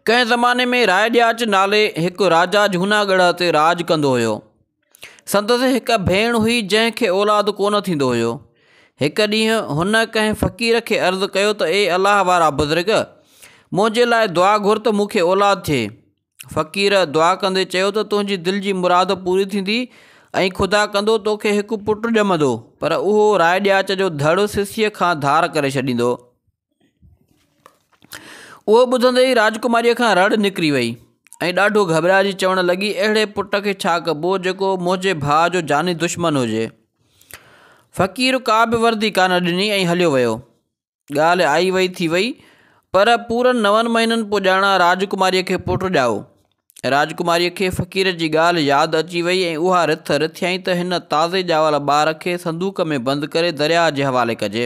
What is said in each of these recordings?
ڪنهن زماني ۾ راء ڏياچ نالي هڪ راجا جهوناڳڙهه تي راڄ ڪندو هيو. سندس هڪ ڀيڻ هئي جنهن کي اولاد ڪونه ٿيندو هيو. هڪ ڏينهن هن ڪنهن فقير کي عرض ڪيو ته اي الله وارا بزرگ! منهنجي لاء دعا گهر ته مون کي اولاد ٿئي. فقير دعا ڪندي چيو ته تنهنجي دل جي مراد پوري ٿيندي ۽ خدا ڪندو تو کي هڪ پٽ ڄمندو پر اهو راء ڏياچ جو ڌڙ سسيء کان ڌار ڪري ڇڏيندو. اهو ٻڌندي ئي راجڪماريء کان رڙ نڪري وئي ۽ ڏاڍو گهٻرائجي چوڻ لڳي، اهڙي پٽ کي ڇا ڪبو، جيڪو منهنجي ڀاء جو جاني دشمن هجي. فقير ڪا به وردي ڪانه ڏني ۽ هليو ويو. ڳالهه آئي وئي ٿي وئي، پر پورن نون مهينن پڄاڻان راجڪماريء کي پٽ ڄائو. راجڪماريء کي فقير جي ڳالهه ياد اچي وئي ۽ اها رٿ رٿيائين ته هن تازي ڄاول ٻار کي صندوق ۾ بند ڪري درياهه جي حوالي ڪجي.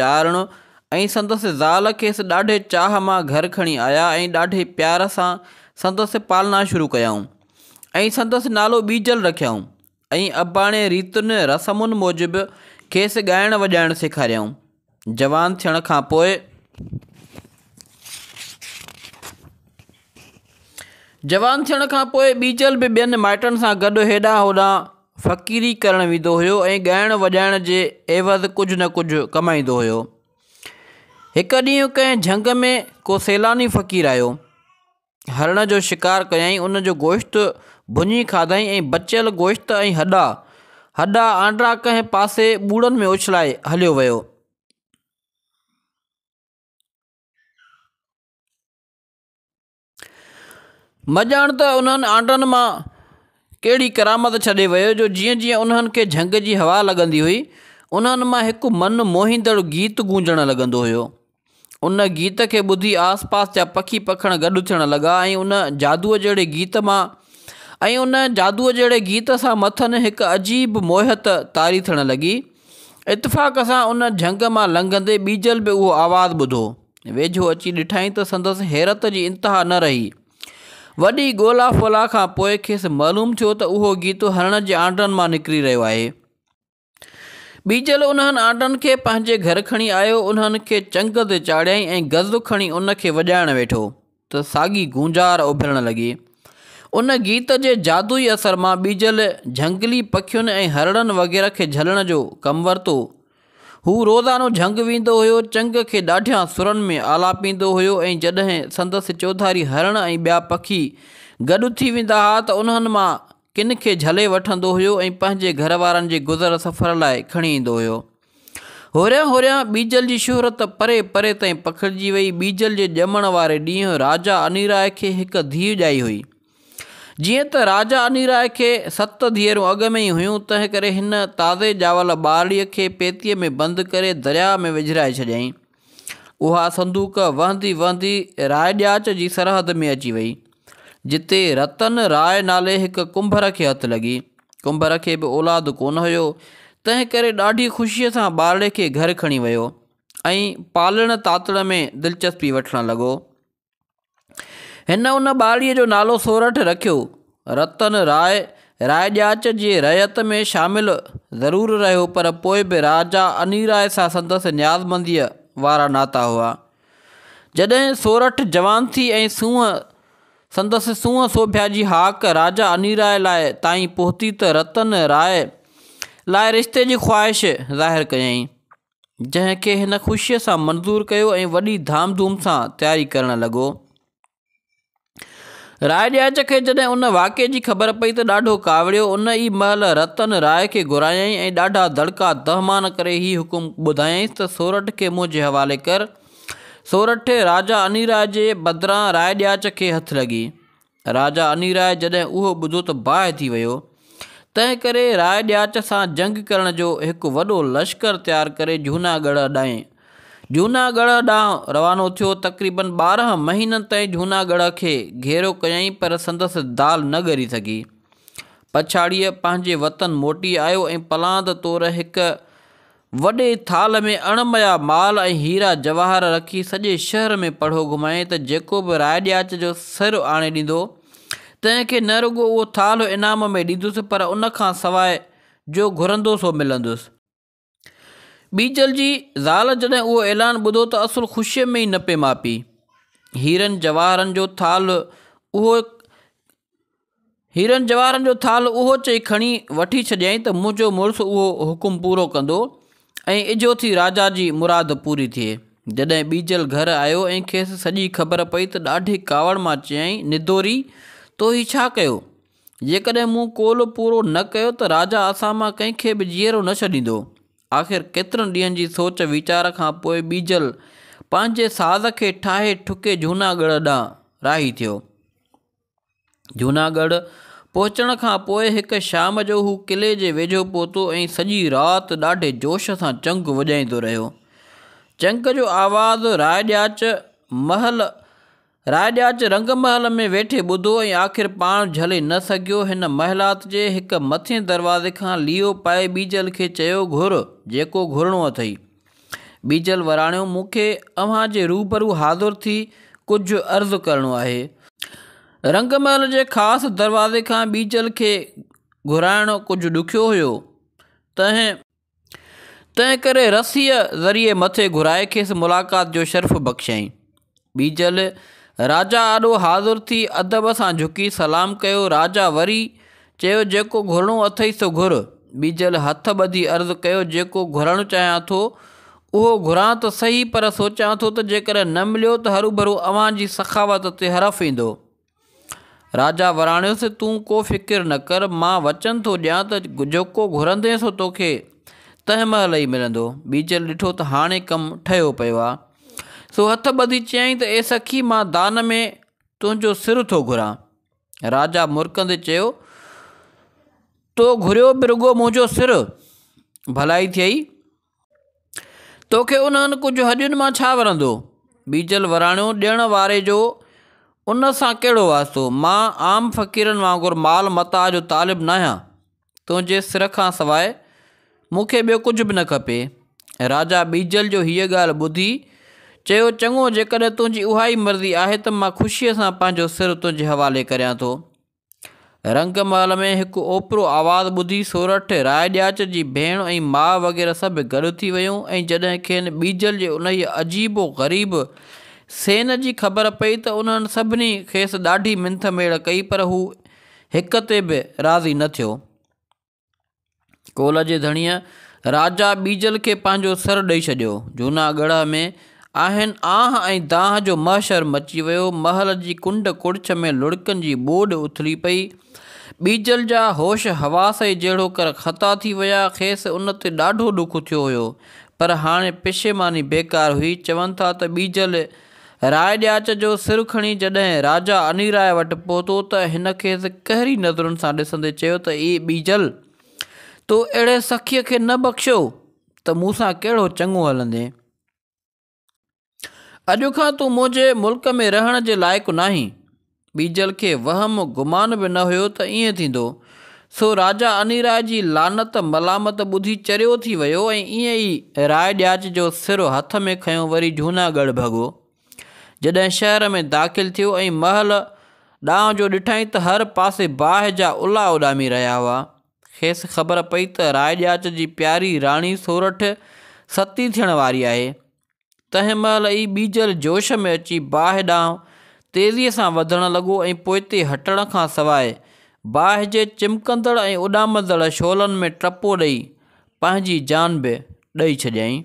چارڻو ۽ سندس زال کيس ڏاڍي چاهه مان گهر کڻي آيا ۽ ڏاڍي پيار سان سندس پالنا شروع ڪيائون ۽ سندس نالو ٻيجل رکيائون ۽ اباڻي ريتن رسمن موجب کيس ڳائڻ وڄائڻ سيکاريائون جوان ٿيڻ کان پوء جوان ٿيڻ کان پوء ٻيجل به ٻين مائٽن سان گڏ هيڏانهن هوڏانهن فقيري ڪرڻ ويندو هيو ۽ ڳائڻ وڄائڻ جي عيوض ڪجهه نه ڪجهه ڪمائيندو هيو. هڪ ڏينهن ڪنهن جهنگ ۾ ڪو سيلاني فقير آيو. هرڻ جو شڪار ڪيائين ان جو گوشت ڀڃي کاڌائين ۽ بچيل گوشت ۽ هڏا هڏا آنڊا ڪنهن پاسي ٻوڙن ۾ اڇلائي هليو ويو. مه ڄاڻ ته انهن آنڊن مان ڪهڙي ڪرامت ڇڏي ويو جو جيئن جيئن انهن کي جهنگ جي هوا لڳندي هئي، انهن مان هڪ من موهيندڙ گيت گونجڻ لڳندو هيو. ان گيت کي ٻڌي آس پاس جا پکي پکڻ گڏ ٿيڻ لڳا ۽ ان جادوء جهڙي گيت مان ۽ ان جادوء جهڙي گيت سان مٿن هڪ عجيب موهيت طاري ٿيڻ لڳي. اتفاق سان ان جهنگ مان لنگهندي ٻيجل به اهو آواز ٻڌو. ويجهو اچي ڏٺائين ته سندس حيرت جي انتها نه رهي. وڏي ڳولا ڦولا کان پوء کيس معلوم ٿيو ته اهو گيتو هرڻ جي آنڊن مان نڪري رهيو آهي. ٻيجل انهن آنڊن کي پنهنجي گهر کڻي آيو، انهن کي چنگ تي چاڙهيائين ۽ غزل کڻي ان کي وڄائڻ ويٺو. ته ساڳي گونجار اڀرڻ لڳي. ان گيت جي جادوئي اثر مان ٻيجل جهنگلي پکين ۽ هرڻن وغيره کي جهلڻ جو ڪم ورتو. هو روزانو جهنگ ويندو هيو، چنگ کي ڏاڍيان سرن ۾ آلاپيندو هيو ۽ جڏهن سندس چوڌاري هرڻ ۽ ٻيا پکي گڏ ٿي ويندا ها ته انهن مان ڪن کي جهلي وٺندو هيو ۽ پنهنجي گهر وارن جي گذر سفر لاء کڻي ايندو هيو. هوريان هوريان ٻيجل جي شهرت پري پري تائين پکڙجي وئي. ٻيجل جي ڄمڻ واري ڏينهن راجا انيراء کي هڪ ڌيء ڄائي هئي. جيئن ته راجا انيراء کي ست ڌيئرون اڳ ۾ ئي هيون، تنهنڪري هن تازي ڄاول ٻارڙيء کي پيتيء ۾ بند ڪري درياء ۾ وجهرائي ڇڏيائين. اها صندوق وهندي وهندي راء ڏياچ جي سرحد ۾ اچي وئي، جتي رتن راء نالي هڪ ڪنڀر کي هٿ لڳي. ڪنڀر کي به اولاد ڪونه هيو، تنهن ڪري ڏاڍي خوشيء سان ٻارڙي کي گهر کڻي ويو ۽ پالڻ تاتڻ ۾ دلچسپي وٺڻ لڳو. هن ان ٻارڙيء جو نالو سورٺ رکيو. رتن راء رائڄاچ جي رعيت ۾ شامل ضرور رهيو پر پوء به راجا انيراء سان سندس نيازمنديء وارا ناتا هئا. جڏهن سورٺ جوان ٿي ۽ سونهن سندس سونهن سوڀيا جي هاڪ راجا انيراء لاء تائين پهتي ته رتن راء لاء رشتي جي خواهش ظاهر ڪيائين. جنهن کي هن خوشيء سان منظور ڪيو ۽ وڏي ڌام ڌوم سان تياري ڪرڻ لڳو. راء ڏياچ کي جڏهن ان واقعي جي خبر پئي ته ڏاڍو ڪاوڙيو. ان ئي مهل رتن راء کي گهرايائين ۽ ڏاڍا دڙڪا دهمان ڪري هي حڪم ٻڌايائينس ته سورٺ کي منهنجي حوالي ڪر. سورٺ، راجا انيراء جي بدران راء ڏياچ کي هٿ لڳي. راجا انيراء جڏهن اهو ٻڌو ته باهه ٿي ويو، تنهن ڪري راء ڏياچ سان جنگ ڪرڻ جو هڪ وڏو لشڪر تيار ڪري جهونا ڳڙهه ڏانهن جهونا ڳڙهه ڏانهن روانو ٿيو. تقريباً ٻارهن مهينن تائين جهونا ڳڙهه کي گهيرو ڪيائين پر سندس دال نه ڳري سگهي. پڇاڙيء پنهنجي وطن موٽي آيو ۽ پلاند طور هڪ وڏي ٿالهه ۾ اڻ مئا مال ۽ هيرا جواهر رکي سڄي شهر ۾ پڙهو گهمائين ته جيڪو به راء ڏياچ جو سر آڻي ڏيندو تنهن کي نه رڳو اهو ٿالهو انعام ۾ ڏيندس پر ان کان سواء جو گهرندو سو ملندس. ٻيجل جي زال جڏهن اهو اعلان ٻڌو ته اصل خوشيء ۾ ئي نه پئي ماپي. هيرن جواهرن جو ٿالهه اهو هيرن جواهرن جو ٿالهه اهو چئي کڻي وٺي ڇڏيائين ته منهنجو مڙس اهو حڪم پورو ڪندو ۽ اجهو ٿي راجا جي مراد پوري ٿئي. جڏهن ٻيجل گهر آيو ۽ کيس سڄي خبر پئي ته ڏاڍي ڪاوڙ مان چيائين، ندوري! تو هي ڇا ڪيو؟ جيڪڏهن مون قول پورو نه ڪيو ته راجا اسان مان ڪنهن کي به جيئرو نه ڇڏيندو. آخر ڪيترن ڏينهن جي سوچ ويچار کان پوء ٻيجل پنهنجي ساز کي ٺاهي ٺڪي جهوناڳڙهه ڏانهن راهي ٿيو. جوناڳڙهه پهچڻ کان پوء هڪ شام جو هو قلعي جي ويجهو پهتو ۽ سڄي رات ڏاڍي جوش سان چنگ وڄائيندو رهيو. چنگ جو آواز راء ڏياچ محل راء ڏياچ رنگ محل ۾ ويٺي ٻڌو ۽ آخر پاڻ جهلي نه سگهيو. هن محلات جي هڪ مٿين دروازي کان ليئو پائي ٻيجل کي چيو گهر جيڪو گهرڻو اٿئي. ٻيجل وراڻيو، مون کي اوهان جي روبرو حاضر ٿي ڪجهه عرض ڪرڻو آهي. رنگ محل جي خاص دروازي کان ٻيجل کي گهرائڻ ڪجهه ڏکيو هيو، تنهن تنهنڪري رسيء ذريعي مٿي گهرائي کيس ملاقات جو شرف بخشيائين. ٻيجل، راجا آڏو حاضر ٿي ادب سان جهڪي سلام ڪيو، راجا وري چيو جيڪو گهرڻو اٿئي سو گهر، ٻيجل هٿ ٻڌي عرض ڪيو جيڪو گهرڻ چاهيان ٿو اهو گهران ته سهي پر سوچيان ٿو ته جيڪڏهن نه مليو ته هروڀرو اوهان جي سخاوت تي حرف ايندو. راجا وراڻيس، تون ڪو فڪر نه ڪر، مان وچن ٿو ڏيان ته جيڪو گهرندين سو توکي تنهن مهل ئي ملندو. ٻيجل ڏٺو ته هاڻي ڪم ٺهيو پيو آهي، سو هٿ ٻڌي چيائين ته اي سخي مان دان ۾ تنهنجو سر ٿو گهران. راجا مرڪندي چيو، تو گهريو به رڳو منهنجو سر، ڀلائي ٿئي. توکي انهن ڪجهه هڏين مان ڇا ورندو؟ بيجل وراڻيو، ڏيڻ واري جو ان سان ڪهڙو واسطو؟ مان عام فقيرن وانگر مال متاع جو طالب ناهيان. تنهنجي سر کان سواء مون کي ٻيو ڪجهه به نه کپي. راجا بيجل جو هيء ڳالهه ٻڌي، چيو، چڱو، جيڪڏهن تنهنجي اهائي مرضي آهي ته مان خوشيء سان پنهنجو سر تنهنجي حوالي ڪريان ٿو. رنگ محل ۾ هڪ اوپرو آواز ٻڌي سورٺ، راء ڏياچ جي ڀيڻ ۽ ماء وغيره سڀ گڏ ٿي ويون ۽ جڏهن کين ٻيجل جي انهيء عجيب و غريب سين جي خبر پئي ته انهن سڀني کيس ڏاڍي منٿ ميڙ ڪئي پر هو هڪ تي به راضي نه ٿيو. ڪول جي ڌڻيء راجا ٻيجل کي پنهنجو سر ڏئي ڇڏيو. جهونا ڳڙهه ۾ آهن آنهه ۽ دانهه جو محشر مچي ويو. محل جي ڪنڊ ڪڙڇ ۾ لڙڪن جي ٻوڏ اٿلي پئي. ٻيجل جا هوش حواس ئي جهڙوڪر خطا ٿي ويا. کيس ان تي ڏاڍو ڏک ٿيو هيو. پر هاڻي پشيماني بيڪار هئي. چون ٿا ته ٻيجل راء ڏياچ جو سر کڻي جڏهن راجا انيراء وٽ پهتو ته هن کيس قهري نظرن سان ڏسندي چيو ته اي ٻيجل! تو اهڙي سخيء کي نه بخشيو ته مون سان ڪهڙو چڱو هلندين. اڄ کان تون منهنجي ملڪ ۾ رهڻ جي لائق ناهين. ٻيجل کي وهم گمان به نه هيو ته ائين ٿيندو. سو راجا انيراء جي لعنت ملامت ٻڌي چريو ٿي ويو ۽ ائين ئي راء ڏياچ جو سر هٿ ۾ کنيو وري جهونا ڳڙهه ڀڳو. جڏهن شهر ۾ داخل ٿيو ۽ محل ڏانهن جو ڏٺائين ته هر پاسي باهه جا الا اڏامي رهيا هئا. کيس خبر پئي ته راء ڏياچ جي پياري راڻي سورٺ ستي ٿيڻ واري آهي. تنهن مهل ئي ٻيجل جوش ۾ اچي باهه ڏانهن تيزيء سان وڌڻ لڳو ۽ پوئتي هٽڻ کان سواء باهه جي چمڪندڙ ۽ اڏامندڙ شعلن ۾ ٽپو ڏئي پنهنجي جان به ڏئي ڇڏيائين.